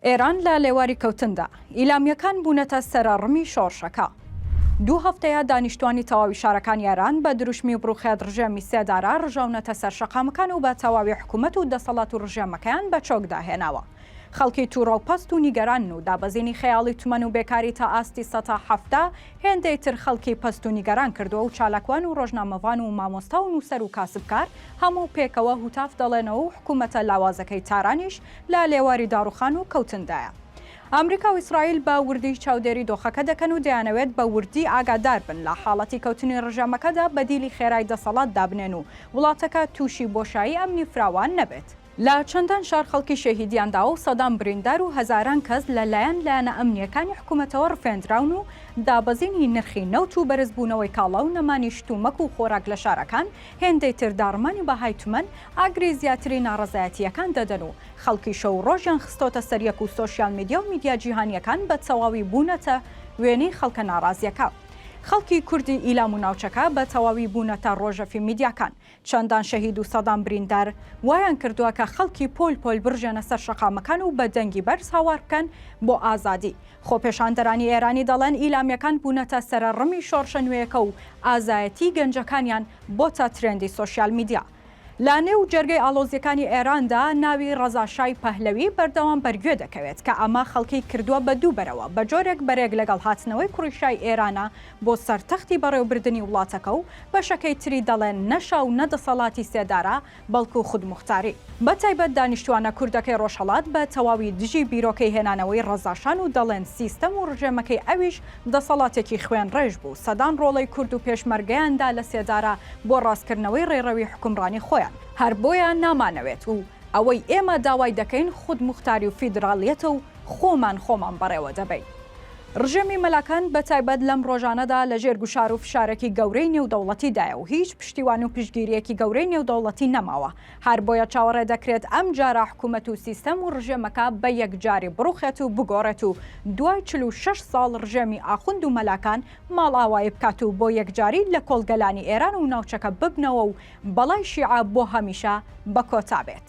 ئێران لە لێواری کەوتندا، ئیلامییەکان بوونەتە سەرەڕمی شۆڕشەکە. دوو هەفتەیە دانیشتووانی تەواوی شارەکانی ئێران بە دروشمی بڕوخێت ڕژێمی سێدارە ڕژاونەتە سەر شەقامەکان و بە تەواوی حکوومەت و دەسەڵات و ڕژێمەکەیان بە چۆکدا هێناوە. خەڵکی تووڕە و پەست و نیگەرانن و دابەزینی خەیاڵی تومەن و بێکاری تا ئاستی سەتا حەفتا هێندەی تر خەڵکی پەست و نیگەران کردووە و چالاکوان و ڕۆژنامەڤان و مامۆستا و نووسەر و کاسبکار هەموو پێکەوە هوتاف دەڵێنەوە و حکوومەتە لاوازەکەی تارانیش لە لێواری داڕوخان و کەوتندایە. ئامریکا و ئیسرائیل بە وردی چاودێری دۆخەکە دەکەن و دەیانەوێت بە وردی ئاگادار بن لە حاڵەتی کەوتنی ڕژێمەکەدا بەدیلی خێرای دەسەڵات دابنێن و وڵاتەکە تووشی بۆشایی ئەمنی فراوان نەبێت. لە چەندان شار خەڵکی شەهیدیان داوە و سەدان بریندار و هەزاران کەس لە لایەن لایەنە ئەمنییەکانی حکومەتەوە ڕفێندراون و دابەزینی نرخی نەوت و بەرزبوونەوەی کاڵا و نەمانی شتومەک و خۆراک لە شارەکان هێندەی تر داڕمانی بەهای تمەن ئاگری زیاتری ناڕەزایەتییەکان دەدەن و خەڵکی شەو و ڕۆژیان خستۆتە سەر یەک و سۆشیال میدیا و میدیا جیهانییەکان بە تەواوی بوونەتە وێنەی خەڵکە ناڕازییەکە. خەڵکی کوردی ئیلام و ناوچەکە بە تەواوی بوونەتە ڕۆژەڤی میدیاکان. چەندان شەهید و سەدان بریندار وایان کردووە کە خەڵکی پۆل پۆل بڕژێنە سەر شەقامەکان و بە دەنگی بەرز هاوار بکەن بۆ ئازادی، خۆپێشاندەرانی ئێرانی دەڵێن ئیلامیەکان بوونەتە سەرەڕمی شۆڕشە نوێیەکە و ئازایەتیی گەنجەکانیان بۆتە ترێندی سۆشیال میدیا. لە نێو جەرگەی ئاڵۆزیەکانی ئێراندا ناوی ڕەزا شای پەهلەوی بەردەوام بەرگوێ دەکەوێت کە ئەمە خەڵکی کردووە بە دوو بەرەوە بە جۆرێک بەرێک لەگەڵ هاتنەوەی کوڕی شای ئێرانە بۆ سەر تەختی بەڕێوبردنی وڵاتەکە و بەشەکەی تری دەڵێن نە شا و نە دەسەڵاتی سێدارە بەڵکو خودموختاری بە تایبەت دانیشتوانە کوردەکەی ڕۆژهەڵات بە تەواوی دژی بیرۆکەی هێنانەوەی ڕەزاشان و دەڵێن سیستەم و ڕژێمەکەی ئەویش دەسەڵاتێکی خوێن ڕێژ بوو سەدان ڕۆڵەی کورد و پێشمەرگەیان دا لە سێدارە بۆ ڕاستکردنەوەی ڕێڕەوی حوکمڕانی خۆیان. هەر بۆیە نامانەوێت و ئەوەی ئێمە داوای دەکەین خودموختاری و فیدراڵیەتە و خۆمان خۆمان بەڕێوە دەبەین. ڕژێمی مەلاکان بە تایبەت لەم ڕۆژانەدا لە ژێر گوشار و فشارێکی گەورەی نێودەوڵەتیدایە و هیچ پشتیوان و پشتگیرییەکی گەورەی نێودەوڵەتی نەماوە، هەر بۆیە چاوەڕێ دەکرێت ئەم جارە حکوومەت و سیستەم و ڕژێمەکە بە یەکجاری بڕووخێت و بگۆڕێت و دوای چل و شەش ساڵ ڕژێمی ئاخوند و مەلاکان ماڵئاوایی بکات و بۆ یەکجاری لە کۆڵگەلانی ئێران و ناوچەکە ببنەوە و بەڵای شیعە بۆ هەمیشە بە کۆتا بێت.